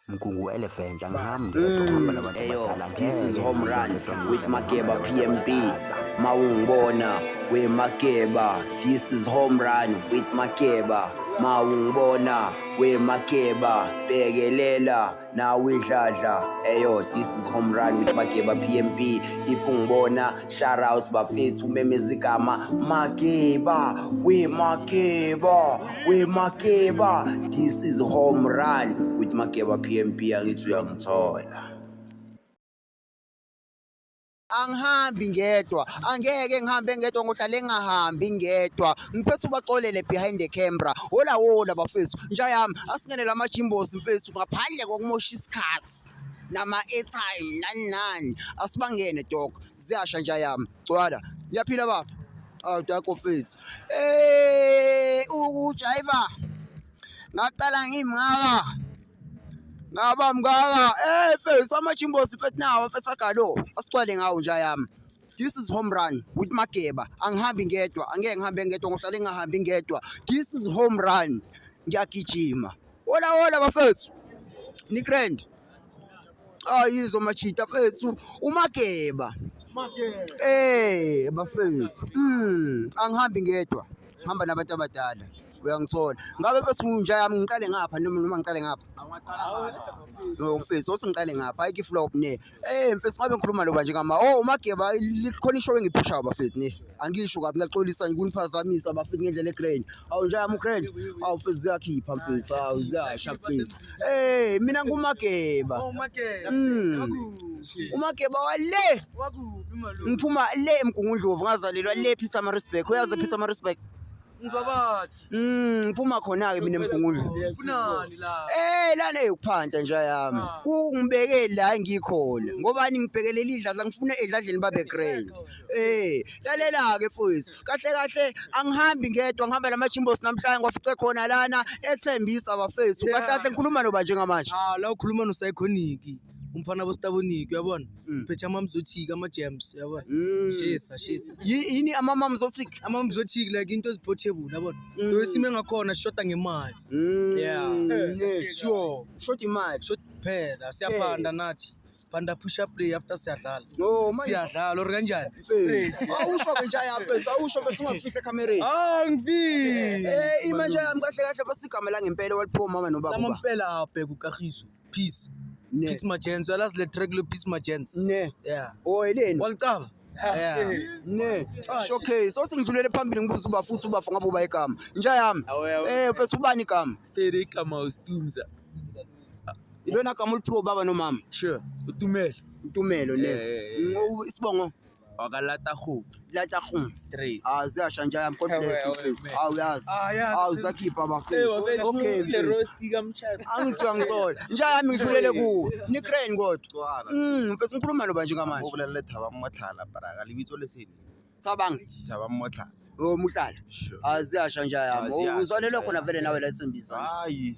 Mgungu Elephant angihamba ngedwa ngihamba nabantu Eyo, abadala this is ngeke home run ngedwa ngidla with nabantu Makeba PMB. abadala. Mawungibona we Makeba. This is home run with Makeba. Mawungibona we Makeba. Bekelela nawe idladla. Eyo, this is home run with Makeba PMB. If ungibona shout out bafethu umemezigama Makeba we Makeba. we makeba this is home run with makeba pmp angithi uyangithola angihambi ngedwa angeke ngihambe ngedwa ngohlale ngingahambi ngedwa ngiphethe ubaxolele behind the camera hola wola bafethu nja yami asingenele amajimbosi mfethu ngaphandle kokumosha isikhathi nama-airtime nani nani asibangene dok ziyasha nja yami Cwala. Ngiyaphila baba. Awu dako mfethu. Eh ukujayiva. Ngaqala ngimngaka. Ngaba mngaka. Eh mfethu amajimbosi mfethu nawo mfethu agalo. Asicwale ngawo nje yami. This is home run with Mageba. Angihambi ngedwa, angeke ngihambe ngedwa, ngihlale ngingahambi ngedwa. This is home run. Ngiyagijima. Hola hola bafethu. Ni grand. ayizo machita fethu umageba eh bafethu mm angihambi ngedwa ngihamba nabantu abadala uyangithola ngabe mfethu nginja yami ngiqale ngapha noma noma ngiqale ngapha no mfethu othi ngiqale ngapha ayike flow ne eh mfethu ngabe ngikhuluma loba nje ngama oh umageba likhona ishow engiphushayo bafethu ne angisho kabi ngiyaxolisa ngikuniphazamisa bafika ngendlela egrand awu nje yami ugrand awu mfethu ziyakhipha mfethu awu ziyasha mfethu hey mina ngumageba oh, hmm. umageba wale ngiphuma le emgungundlovu ngazalelwa le phisa marisbek uyazi phisa marisbek Ngizobathi. Mm, ngiphuma khona-ke mina emgungundla. Funani la. Eh lana eyokuphansa nje yami. Ah. Kungibeke la ngikhona. Ngobani ngibhekelele idladla ngifuna edladleni babe grand. Eh, lalela ke mfowethu. Kahle kahle angihambi ngedwa ngihamba la machimbos namhlanje ngwafice khona lana ethembisa bafethu. Kahle kahle ngikhuluma noba njengamanje. Ah, la ukhuluma no Psychonic. umfana bostaboniki uyabona Mm. phethe amamzothiki ama-jams uyabona Mm. shisa shisa Yi- yini amamam zothik amamzothiki like into ezi-portable uyabona Mm. to isimo engakhona sishoda ngemali Mm. Yeah. Eh, sure short imali shot phela siyaphanda nathi phanda push up play after siyadlala no manje siyadlala or kanjani Eh, awusho ke njaya pesa awusho bese ungafihle ekhamereni Ah, angifile Eh, imanje yami kahle kahle basigama langempela waliphiwa umama nobaba lama uba mpela abheka ukahiso peace Ne. peace magents uyalazi le track le peace magents ne yeah o eleni walicava yeah ne okay so singidlulele phambili ngibuza uba futhi uba ngabe uba igama inja yami eh mfethu ubani igama fere igama ustumza ilona gama uliphiwe ubaba nomama sure utumelo utumelo ne isibongo wakalata go lata go straight azi ashanja yam god bless you please aw yaz aw zakhipha bafethu okay angizwa ngithola nja yami ngidlulele ku ni crane kodwa mm mfethu ngikhuluma no banje ngamanje ubulele thaba mmotlhala baraka libitso lesini cabanga thaba mmotlhala oh mutlhala azi ashanja yam uzwanele khona vele nawe la tsimbisa hayi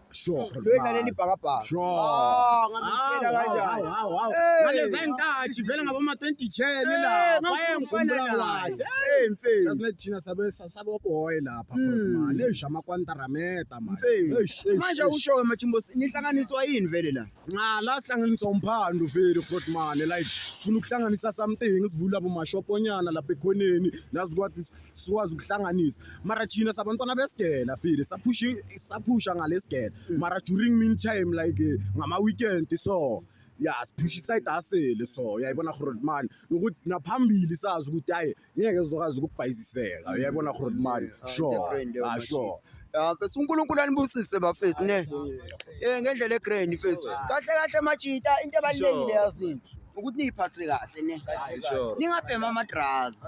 Sure. Lwedlaleni ibhakabhaka. Sure. Ah, ngakufela kanjani? Hawu hawu. Ngaleza intathi vele ngaboma 20 chair la. Baye ngikhumbula kahle. Hey mfethu. Sasine thina sabe sabo boy lapha hmm. man. Leisha amakwantara meta man. Mfethu. Manje usho ke mathimbo nihlanganiswa yini vele la? Nqa la sihlanganiswa umphando vele front man. Like sifuna ukuhlanganisa something sivula bo mashoponyana lapha ekhoneni. Nazi kwathi sikwazi ukuhlanganisa mara thina sabantwana besigela file saphusha saphusha ngalesigela mm. mara during mean time like eh, ngama-weekend so ya siphusha isayidi asele so uyayibona rhodman nokuthi naphambili sazi ukuthi hayi ngeke zokwazi ukubhayiziseka mm. uyayibona rhodman ah, sure ah, sure ya mfethu uNkulunkulu anibusise bafethu ne eh ngendlela egrand mfethu kahle kahle majita into ebalekile yazini ukuthi niyiphathe kahle ne ningabhema ama drugs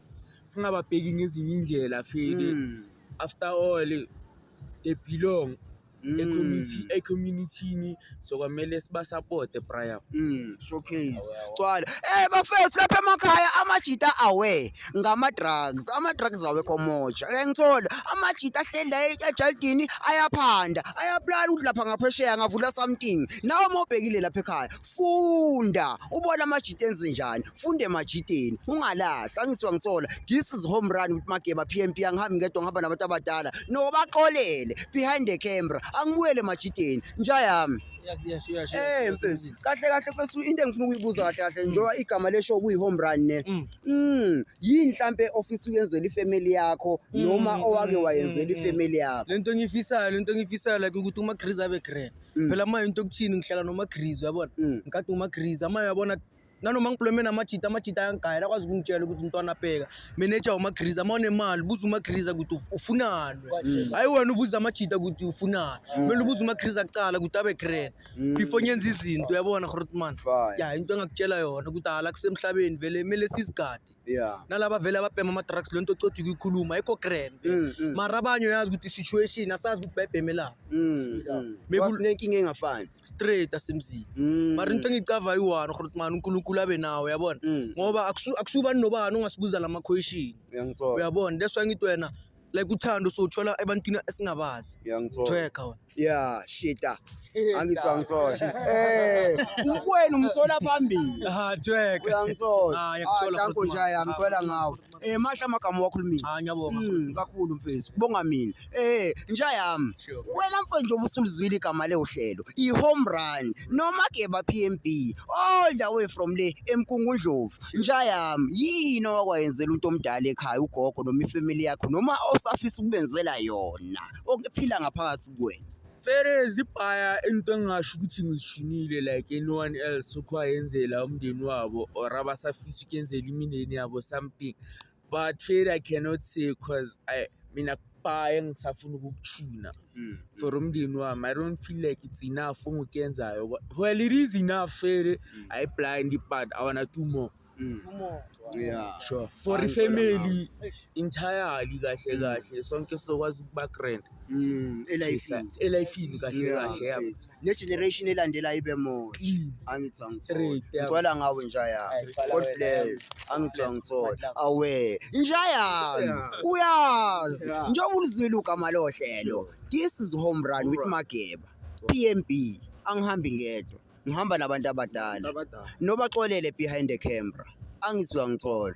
singababheki ngezinye indlela feli Mm. after all they belong Mm. ecommunity- ecommunity-ni so kwamele sibasapote brian Mm, showcase cwala eh bafethu lapha emakhaya amajita awe ngama-drugs ama-drugs awekho moja ke ngithola amajita ahleli la e- ejaldini ayaphanda ayabulala ukuthi lapha ngaphesheya ngavula something nawe uma ubhekile lapha ekhaya funda ubona amajita enze njani funde emajiteni ungalahli angithi wangithola this is home run with mageba pmp angihambi ngedwa ngihamba nabantu abadala no baxolele behind the camera angibuyele emajiteni nja yami Yes, yes, yes. Eh, yes, yes, yes. kahle kahle mfethu into engifuna ukuyibuza kahle kahle mm. njengoba igama lesho kuyi home run ne. Mm. mm. Yini mhlambe ofisa ukuyenzela ifamily yakho mm, noma owake wayenzela ifamily yakho. Lento engiyifisayo, lento engiyifisayo like ukuthi uma Chris abe grand. mm. phela manje into okuthini ngihlala nomagrizi uyabona mm. ngikade umagrizi amanye uyabona nanoma ngibhuleme namajita amajita ayangigayela akwazi ukungitshela ukuthi umntwana abheka meneja umagriza uma unemali buza umagriza ukuthi ufunani hayi wena ubuza amajita ukuthi ufunani kumele ubuza umagriza kuqala ukuthi abe grand before ngenza izinto uyabona grotman ya into engakutshela yona ukuthi hala kusemhlabeni vele kumele sizigade yeah nalaba vele ababhema ama-drugs le nto ocotha ukuyikhuluma ayikho grand mm, mm. mara abanye uyazi ukuthi i-situation asazi ukuthi bayibhemelani mm, mm. nenkinga engafani straight asemzini mm. mara into engiyicava yi-one khona ukuthi mani unkulunkulu abe nawo yabona mm. ngoba akusubani nobani ongasibuza la ma-question uyabona that's why ngithi wena like uthando sowuthola ebantwini esingabazi Ngiyangithola. Jweka wena Yeah, shita. Angithola ngithola. Eh, umfweni umthola phambili. ha jweka Uyangithola. Ah, ngiyakuthola, Ah, danko futhi, nje man. angicela ngawe. Eh, masha amagama wakho limi. ha ngiyabonga Mm, kakhulu mfethu kubonga mina eh nja yami wena mfethu njengoba usulizwile igama lewuhlelo i-home run noma geba pmb all the way from le emkungundlovu nja yami yini owakwayenzela umuntu omdala ekhaya ugogo noma ifamily yakho noma osafisa ukubenzela yona okuphila ngaphakathi kuwena vele zibhaya into engingasho ukuthi ngizishunile like anyone else okho ayenzela umndeni wabo or abasafisa ukuyenzela imindeni yabo something but fail i cannot say cause i mina kubaye ngisafuna ukukuthuna mm. for umndeni wami i don't feel like it's enough ongukuyenzayo well it is enough fail mm. i blind but i wanna do more Mm. Yeah. Sure. For the family entirely kahle mm. kahle sonke sizokwazi ukuba grand. Mm. Elifini. Elifini kahle kahle. negeneration elandela ibe more angithi angithola ngawe njaya god bless angithi angithola awe njaya uyazi njengoba ulizwile ugama lohlelo this is home run with mageba pmb angihambi ngedwa ngihamba nabantu abadala nobaxolele behind the camera angizwa ngithola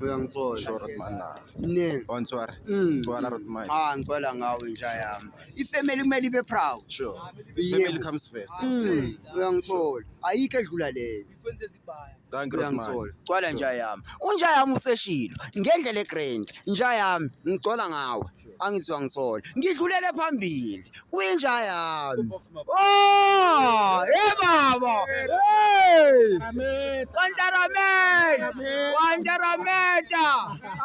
uyangithola sure ukuthi mani la ne ontswara Mm. gcwala ukuthi mani ah ngicela ngawe inja yami ifamily kumele ibe proud sure Yebo. family comes first Mm, uyangithola ayikho edlula leyo thank you Rotman. uyangithola gcwala nja yami unja yami useshilo ngendlela egrand nja yami ngicwala ngawe angizwa ngithola ngidlulele phambili kwinja yami oh hey baba hey kwantarameta kwantarameta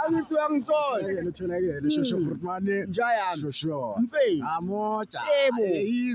angizwa ngithola ngitholakele shosho frutmane hmm. nja yami shosho mfei amoja yebo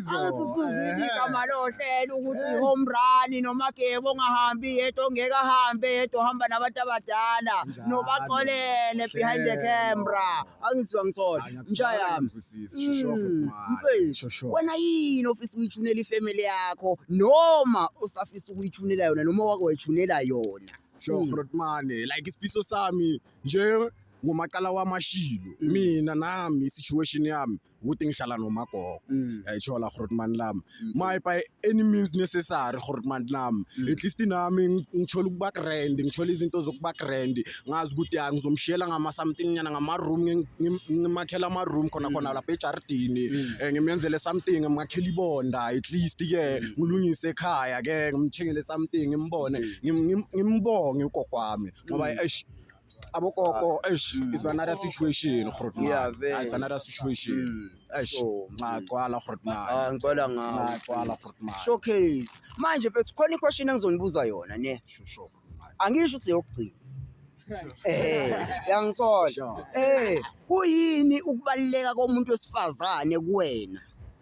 angithi usuzwile igama lohlelo ukuthi eh. home run noma gebo ongahambi yedwa ongeke ahambe yedwa ohamba nabantu abadala nobaxolele behind the camera angithiwa ngithola msha yami mm, mfethu wena yini ofisa ukuyithunela ifamily yakho noma usafisa ukuyithunela yona noma wake wayithunela yona sure mm. frotmane like isifiso sami nje ngomacala wamashilo mm. mina nami situation yami o teng shalano makoko mm. a itshola gore man lam mm. my by any means necessary gore man lam mm. at least nami ngithola ukuba grand ngithola izinto zokuba grand ngazi ukuthi ya ngizomshiyela ngama something nyana ngama room ngimakhela ama room khona khona lapha ejardini eh, ngimyenzele something ngimakhela ibonda at least ke ngilungise ekhaya ke ngimthengele something ngimbone ngimbonge ugogo wami ngoba eish abokoko ah, eish mm. is another situation grotman is another situation mm. eish ngagcwala grotman ah, ngicela ngagcwala grotman showcase manje mfethu khona iquestion engizonibuza yona ne shusho angisho ukuthi yokugcina eh yangithola eh kuyini ukubaleka komuntu wesifazane kuwena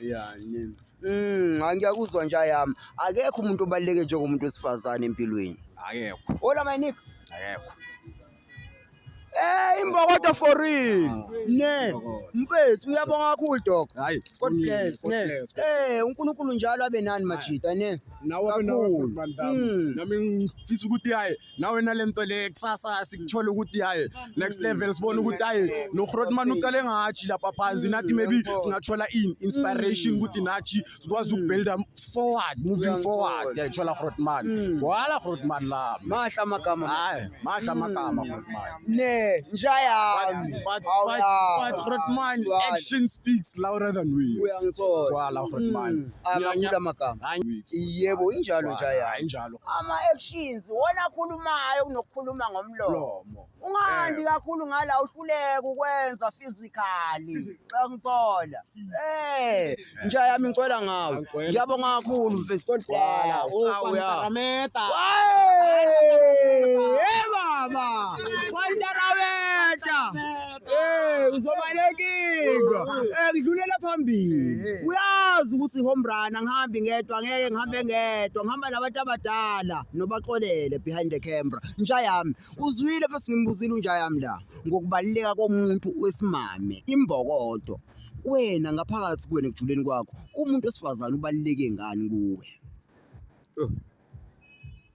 ya nini Mm, hayi ngiyakuzwa nje ayami. Akekho umuntu obaluleke njengomuntu wesifazane empilweni. akekho Hola my nigga. akekho Eh imbokodo for real. Ne. Mfethu ngiyabonga kakhulu dog. hayi God bless. Ne. Eh uNkulunkulu njalo abe nani majita ne. nawe abe nawe Kakhulu. futhi bandla Mm. nami ngifisa ukuthi hayi nawe nale nto le kusasa sikuthola ukuthi hayi next level sibone ukuthi hayi nohrotman ucale ngathi lapha phansi nathi maybe singathola in inspiration mm. ukuthi nathi sikwazi ukubuilda forward moving forward yayithola hrotman mm. wala hrotman la mahla amagama hayi mahla amagama mm. hrotman ne njayami but but hrotman action speaks louder than words uyangithola wala hrotman ngiyangithola amagama yebo injalo njayami injalo ama-actions wona akhulumayo kunokukhuluma ngomlomo lomo ungandi kakhulu ngala uhluleka ukwenza physically xa ngithola eh nja yami ngicela ngawe Angicela. ngiyabonga kakhulu mfesi kodwala uya Meta. Hey, baba! Kwanta raweta! Eh uzobalekika. Eh ngidlulela phambili. Eh, eh. Uyazi ukuthi home run angihambi ngedwa ngeke ngihambe ngedwa ngihamba nabantu abadala nobaxolele behind the camera. Nja yami uzwile futhi ngimbuzile unja yami la ngokubaluleka komuntu wesimame imbokodo. Wena ngaphakathi kuwena ekujuleni kwakho umuntu wesifazane ubaluleke ngani kuwe? Oh.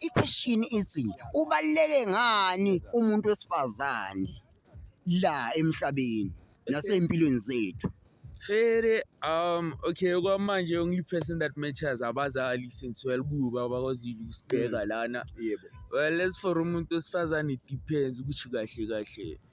I-question ithi kubaluleke ngani umuntu wesifazane la emhlabeni nasey'mpilweni zethu. Fere, um, okay, okwamanje only person that matters abazali since well kuba bakwazile ukusibheka mm. lana. Yebo. Well, as for umuntu wesifazane it depends ukuthi kahle kahle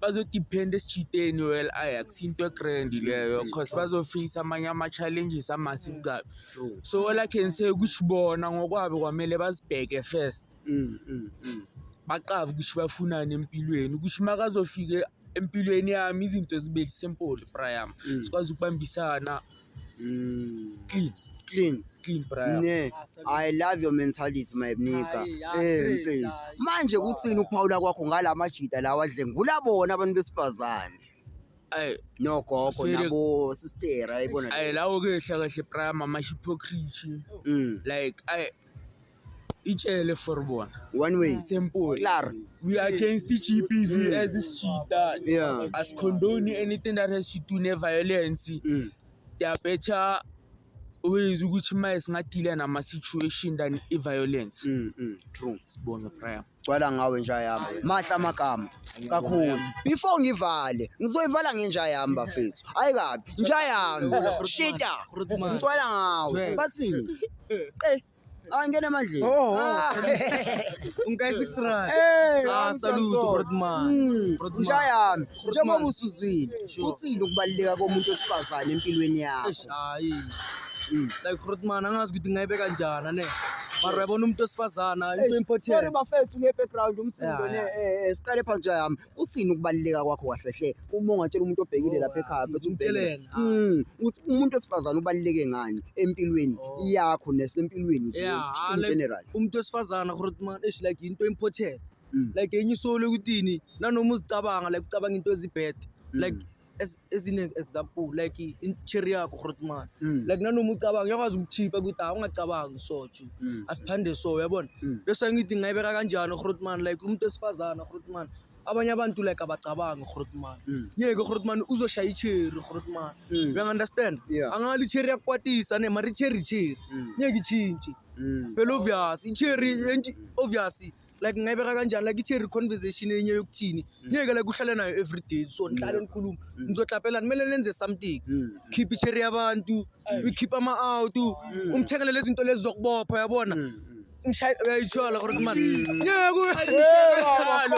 bazodiphenda esijideni well ayax into egrand leyo cause bazofisa amanye ama-challenges amassive kabi so all i can say ukuthi bona ngokwabo kwamele bazibheke first mm, mm, mm. baqabe ukuthi bafunani empilweni ukuthi makazofike empilweni yami izinto zibe simple priam sikwazi ukubambisana Mm. Clean. Clean. Clean brother. Ne. I love your mentality my bnika. Eh mfethu. Manje kuthini ukuphawula kwakho ngalamajita lawa adlengula bona abantu besifazane? Ay no gogo nabo sister ayibona. Ay lawo ke hlakahle prime ama hypocrisy. Mm. Like ay itshele for bona one way simple claro we are against GBV mm. as this cheetah yeah as condone anything that has to do ne violence mm. they are better ways ukuthi maye singadila nama situation than i violence mm, mm, true sibonge prayer gcwala ngawe nja yami mahle amagama kakhulu before ngivale ngizoyivala ngenja yami bafethu hayi kabi nja yami shita ngicwala ngawe bathini eh Ah, ngena emandleni. Oh, oh. Ungikayi 6 rand. Eh, ah, salute Rodman. Hmm, Rodman. Mshayami, njengoba usuzwile, uthini ukubaluleka komuntu wesifazane empilweni yakho? Hayi. Hmm. Like Rodman angazi ukuthi ngayibeka njani ne. Mara yabona umuntu wesifazana into important. Sorry bafethu nge background umsindo ne eh, eh siqale phansi nje yami. Uthini ukubaluleka kwakho kahle hle uma ungatshela umuntu obhekile oh, lapha ekhaya futhi umtshele ah. mm, ukuthi umuntu wesifazane ubaluleke ngani empilweni oh. yakho nesempilweni nje in general. Umuntu wesifazane gore man ish like into important. Mm. Like enye isolo ukuthi nanoma uzicabanga like ucabanga into ezibhead. Mm. Like as as in example like interior yakho grotman mm. like nanoma ucabanga uyakwazi ukukhipha ukuthi hayi ungacabangi so nje mm. asiphande so uyabona mm. bese ngithi ngayibeka kanjani grotman like umuntu esifazana grotman abanye abantu like abacabangi grotman mm. yeke grotman uzoshaya icherry grotman mm. uya understand yeah. angali icherry yakwatisa ne mari cherry cherry mm. ngeke ichintshe mm. phela obvious icherry mm. obvious like ngingayibeka kanjani like ithi reconversation enye yokuthini mm. ngeke like uhlale nayo every day so mm. nihlale nikhulume mm. nizohlaphelana kumele nenze something khiphe icheri yabantu ukhiphe ama-out umthengele lezi zinto lezi zokubopha yabona mshayi uyayithola kodwa kumani ngeke uyayithola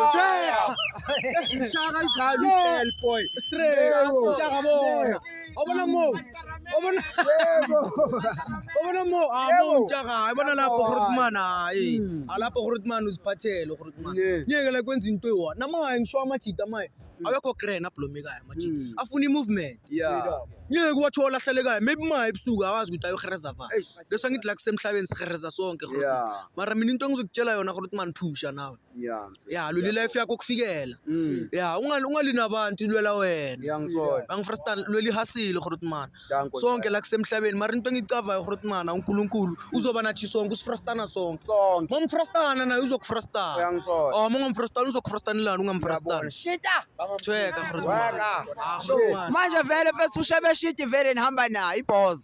Obona mo. Obona. Obona mo. Ah, mo untshaka. Ibona lapho Grootman hayi. Hmm. Alapho ah, Grootman uziphathele Grootman. Ngeke la kwenza into ewa. Namaye ngisho amajita maye. Hmm. Awekho grand ablomekayo amajita. Hmm. Afuna imovement. Yeah. Ngeke wathola ahlelekayo. Maybe maye ebusuku awazi ukuthi ayohereza va. Bese ngithi la kusemhlabeni sihereza sonke Grootman. Mara mina into engizokutshela yona Grootman phusha nawe. Yeah. ya lula ilife yakho kufikela Mm. ya ungali ungali nabantu ilwela wena Ngiyangithola. angifrastan lwela ihasile khona ukuthi mana Thank God. sonke la kusemhlabeni mara into engiyicavayo khona ukuthi mana unkulunkulu uzoba nathi sonke usifrastana sonke Sonke. uma umfrastana naye uzokufrastana Uyangithola. oh uma ungamfrastana uzokufrastanelani ungamfrastana Shita. thweka khona ukuthi mana. Weka. Ah, khona ukuthi mana. Manje vele mfethu ushebe shiti vele nihamba nayo iboss.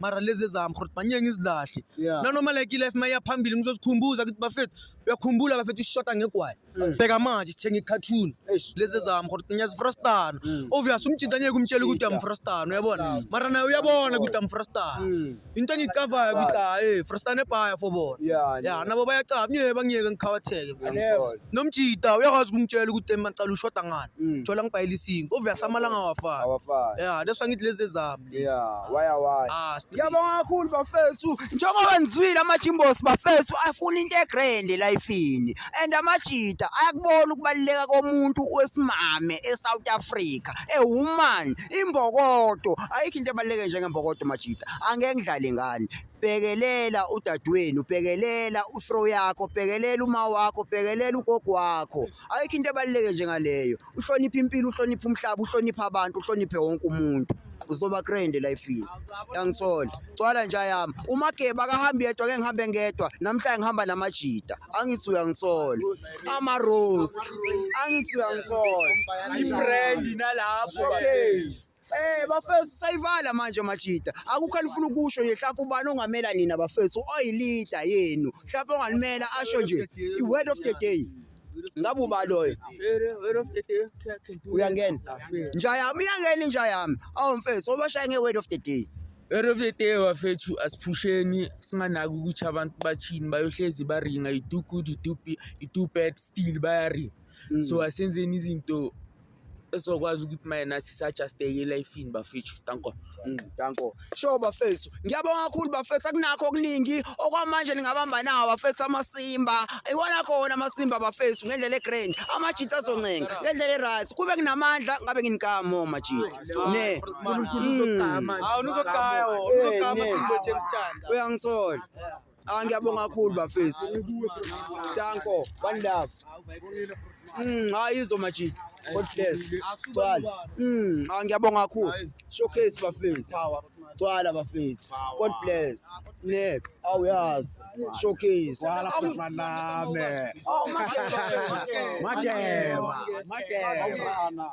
mara lezi ezami khona manje ngizilahle Yeah. nanoma like ilife mayiya phambili ngizozikhumbuza ukuthi bafethu uyakhumbula bafethu isishota ngegwayi bheka manje sithenga i-cartoon Eish. lezi ezami khona ngiyazifrastana obvious umjinta ngeke umtshele ukuthi uyamfrastana uyabona mara naye uyabona ukuthi amfrastana into engiyicavayo ukuthi hayi frastana ebhaya for bona Yeah, ya yeah. nabo bayacava ngeke bangiyeke ngikhawatheke mfethu. Never. nomjita uyakwazi ukumtshela ukuthi emacala ushoda ngani Mm. thola ngibhayela isingo obvious amalanga awafani Awafani. ya that's why ngithi lezi ezami Yeah, why why? Ah, Ngiyabonga kakhulu bafethu. Njengoba nizwile amajimbos bafethu afuna into egrand elifini and amajita ayakubona ukubaluleka komuntu wesimame eSouth Africa. A woman imbokodo ayikho into ebaluleke njengembokodo majita. Angeke ngidlale ngani. Bhekelela udadewenu, bhekelela ufro yakho, bhekelela uma wakho, bhekelela ugogo wakho. Ayikho into ebaluleke njengaleyo. uhloniphe impilo uhloniphe umhlaba uhloniphe abantu uhloniphe wonke umuntu uzoba grand elifini yangithola cwala nje yami umageba akahambi yedwa ke ngihambe ngedwa namhlanje ngihamba namajita angithi uyangithola ama rose angithi uyangithola ibrand nalapho okay Eh bafethu sayivala manje majita. Akukho alifuna ukusho nje mhlawumbe ubani ongamela nina bafethu oyilida yenu. Mhlawumbe ongalimela asho nje i word of the day. Ngabe uba loyo. Uyangena. Nja yami uyangena inja yami. Awu mfethu obashaya nge word of the day. Word of the day bafethu asiphusheni singanaki ukuthi abantu bathini bayohlezi baringa you do good you do you do bad still bayaringa. So asenzeni izinto esizokwazi ukuthi maye nathi sajasteke elifini bafethu danko mm, danko sho bafethu ngiyabonga kakhulu bafethu akunakho okuningi okwamanje ningabamba nawo bafethu amasimba iwona khona amasimba bafethu ngendlela egrand amajita azoncenga ngendlela eright kube kunamandla ngabe nginikamo majita ne uNkulunkulu uzogama mm. awunuzogaya wona uzogama eh, simbo themthanda uyangisola Ah ngiyabonga kakhulu bafethu. Danko, one love. Mm, hayi izo majid. God bless. Gcwala. Mm, ah ngiyabonga kakhulu. Showcase bafethu. Gcwala bafethu. God bless. Ne, awuyazi. Showcase. Gcwala futhi maname. Oh, makeba. Makeba. Makeba.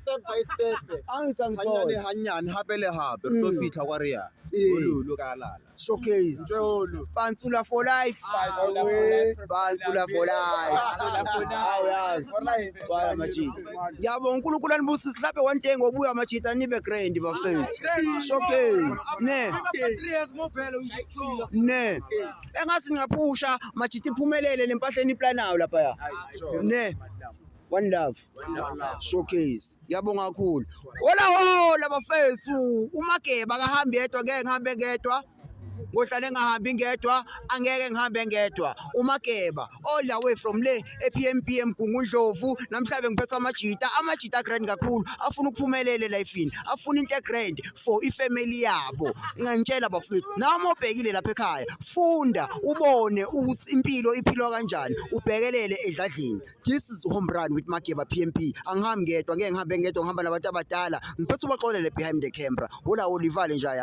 step by step hanyane hanyane hape le hape re tlo mm. fitlha kwa re ya ololo ka lala showcase pantsula for life pantsula for life baya majita yabo unkulunkulu anibusise sihlape one day ngokubuya majita nibe grand bafethu showcase ne ne engathi ngingaphusha majita iphumelele le mpahleni iplanayo lapha ya ne one love showcase ngiyabonga kakhulu hola hola bafethu umageba akahambi yedwa ngeke ngihambe ngedwa ngohlale ngahambi ngedwa angeke ngihambe ngedwa umageba all the way from le ePMPM Gungundlovu namhlanje ngiphetha amajita amajita grand kakhulu afuna ukuphumelele lifeini afuna into grand for ifamily yabo ngangitshela bafethu nami obhekile lapha ekhaya funda ubone ukuthi impilo iphilwa kanjani ubhekelele edladlini this is home run with Mageba PMP angihambi ngedwa ngeke ngihambe ngedwa ngihamba nabantu abadala ngiphethe ubaxolele behind the camera ula ulivale nje